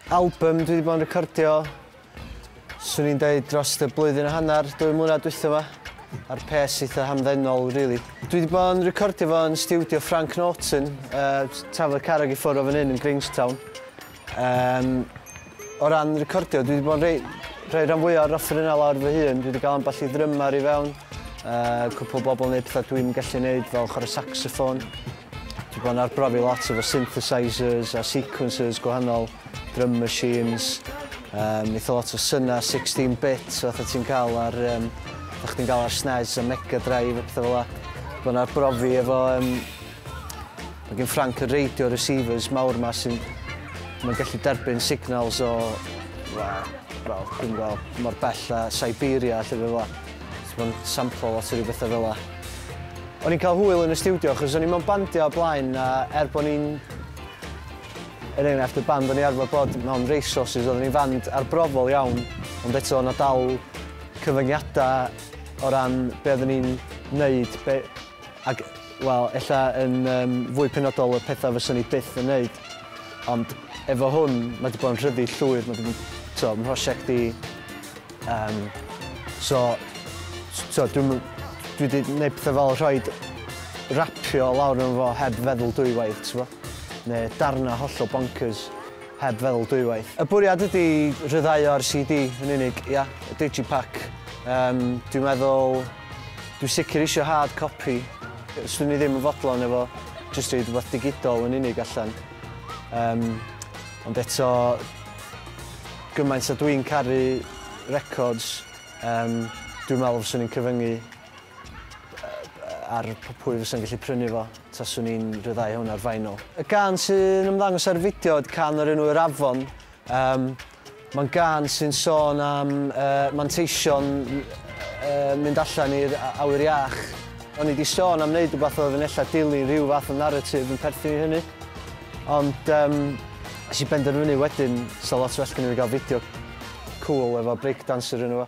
Albym dwi 'di bod yn recordio, 'swn i'n deud dros y blwyddyn a hanner, dwy mlynedd dwytha 'ma, a'r pes eitha hamddenol, really. Dwi 'di bod yn recordio fo yn stiwdio Frank Norton, uh, Tafod Carreg i ffwrdd o fan hyn yn Grangetown. Um, o ran recordio, dwi 'di bod yn rei, rei rhan fwy o'r offer yna lawr fy hun, dwi 'di gael ambell i ddrymar i fewn. Uh, cwpl o bobl yn gwneud pethau dwi'n gallu gwneud fel chwarae saxophone. Dwi'n bod yn arbrofi lot efo synthesizers a sequencers gwahanol, drum machines, um, eitha lot o syna 16 bits fatha ti'n cael ar, um, o'ch ti'n cael ar SNES a Mega Drive a pethau fel la. Dwi'n bod yn arbrofi efo, um, mae gen Frank y radio receivers mawr ma sy'n mae'n gallu derbyn signals o, well, wel, dwi'n gweld, mor bell a Siberia, lle fe fel Os mae'n samplo lot o ryw bethau fel la. O'n i'n cael hwyl yn y stiwdio achos o'n i'n mewn bandio o blaen a er bod ni'n... Er enghraifft y band o'n i arfer bod mewn race horses oedden ni'n fand arbrofol iawn ond eto o'na dal cyfyngiadau o ran be oedden ni'n neud be... ac wel ella yn um, fwy penodol y pethau fyswn ni byth yn neud ond efo hwn mae wedi bod yn rhyddi llwyr mae wedi bod yn prosiect i Um, so, so dwi'n dwi wedi gwneud pethau fel rhoi rapio lawr yn fo heb feddwl dwywaith, ti'n fo? Neu darna hollol bonkers heb feddwl dwywaith. Y bwriad ydy rhyddhau o'r CD yn unig, ia, y digipack. Um, dwi'n meddwl, dwi'n sicr eisiau hard copy. Swn i ddim yn fodlon efo jyst rhaid rhywbeth digidol yn unig allan. Um, ond eto, Gymaint a dwi'n caru records yym dwi'n meddwl fyswn i'n cyfyngu ar pwy fysa'n gallu prynu fo taswn i'n rhyddhau hwn ar vinyl. Y gân sy'n ymddangos ar y fideo yd can o'r enw Yr Afon. Yym mae'n gân sy'n sôn am yy manteision yy mynd allan i'r awyr iach. O'n i 'di sôn am wneud rhywbeth oedd yn ella dilyn rhyw fath o narrative yn perthyn i hynny ond yym Nes i benderfynu wedyn 'sa lot well gynna fi ga'l fideo cŵl efo breakdancer yno fo.